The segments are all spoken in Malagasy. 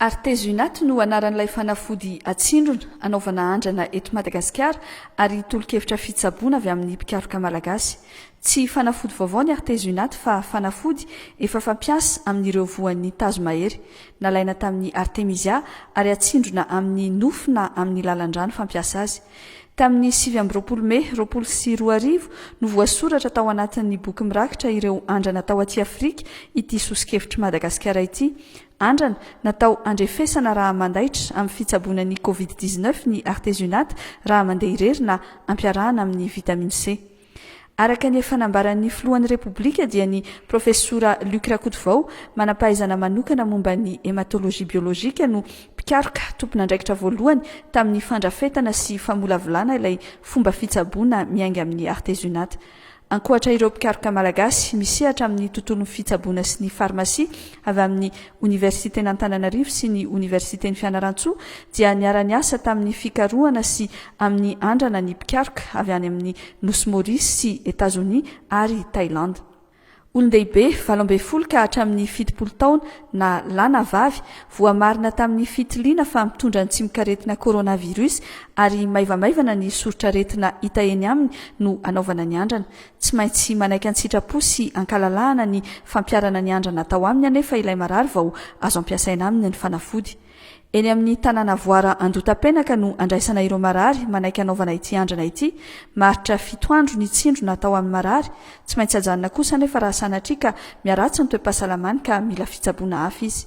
Artezunat no anaran'ilay fanafody atsindrona, anaovana andrana eto Madagasikara ary tolo-kevitra fitsaboana avy amin'ny mpikaroka malagasy. Tsy fanafody vaovao ny artezunat fa fanafody efa fampiasa amin'ireo voan'ny tazomahery, nalaina tamin'ny artemisia ary atsindrona amin'ny nofo na amin'ny lalan-drano fampiasa azy. Tamin'ny sivy amby roapolo Mey roapolo sy roa arivo no voasoratra tao anatin'ny boky mirakitra ireo andrana tao aty Afrika ity soso-kevitr'i Madagasikara ity. Andrana natao handrefesana raha mandaitra amin'ny fitsaboana ny Covid dix-neuf ny Artesunate raha mandeha irery na ampiarahana amin'ny Vitamine C. Araka ny efa nambaran'ny Filohan'ny Repoblika dia ny Profesora Luc Rakotovao, manam-pahaizana manokana momba ny Hematologie biologique no mpikaroka tompon'andraikitra voalohany tamin'ny fandrafetana sy famolavolana ilay fomba fitsaboana miainga amin'ny artezunat. Ankoatra ireo mpikaroka malagasy, misehatra amin'ny tontolon'ny fitsaboana sy ny farmasia avy amin'ny Oniversiten'Antananarivo sy ny Oniversiten'i Fianarantsoa dia niara-niasa tamin'ny fikarohana sy amin'ny andrana ny mpikaroka avy any amin'ny Nosy Maurice sy Etazonia ary Thailand. Olon-dehibe valo ambin'ny folo ka hatramin'ny fitopolo taona na lahy na vavy voamarina tamin'ny fitiliana fa mitondra ny tsimokaretina coronavirus ary maivamaivana ny soritr'aretina hita eny aminy no hanaovana ny andrana Tsy maintsy manaiky an-tsitrapo sy an-kalalahana ny fampiharana ny andrana atao aminy anefa ilay marary vao azo ampiasaina aminy ny fanafody. Eny amin'ny tanàna Voara Andotapenaka no andraisana ireo marary manaiky hanaovana ity andrana ity, maharitra fito andro ny tsindrona atao amin'ny marary, tsy maintsy ajanona kosa anefa raha sanatria ka miharatsy ny toe-pahasalamany ka mila fitsaboana hafa izy.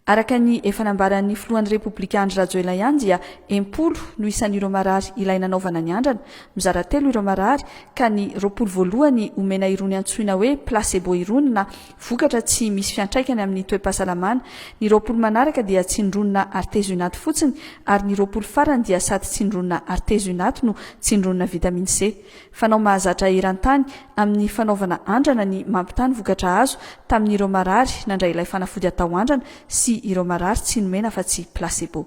Araka ny efa nambaran'ny filohan'ny Repoblika Andry Rajoelina ihany dia em-polo no isan'ireo marary ilay nanaovana ny andrana, mizara telo ireo marary ka ny roapolo voalohany omena irony antsoina hoe placebo irony na vokatra tsy misy fiantraikany amin'ny toe-pahasalamana, ny roapolo manaraka dia tsindronina artezionaty fotsiny ary ny roapolo farany dia sady tsindronina artezionaty no tsindronina vitamine C. Fanao mahazatra eran-tany amin'ny fanaovana andrana ny mampitaha ny vokatra azo tamin'ireo marary nandray ilay fanafody atao andrana sy ireo marary tsy nomena afa-tsy placebo.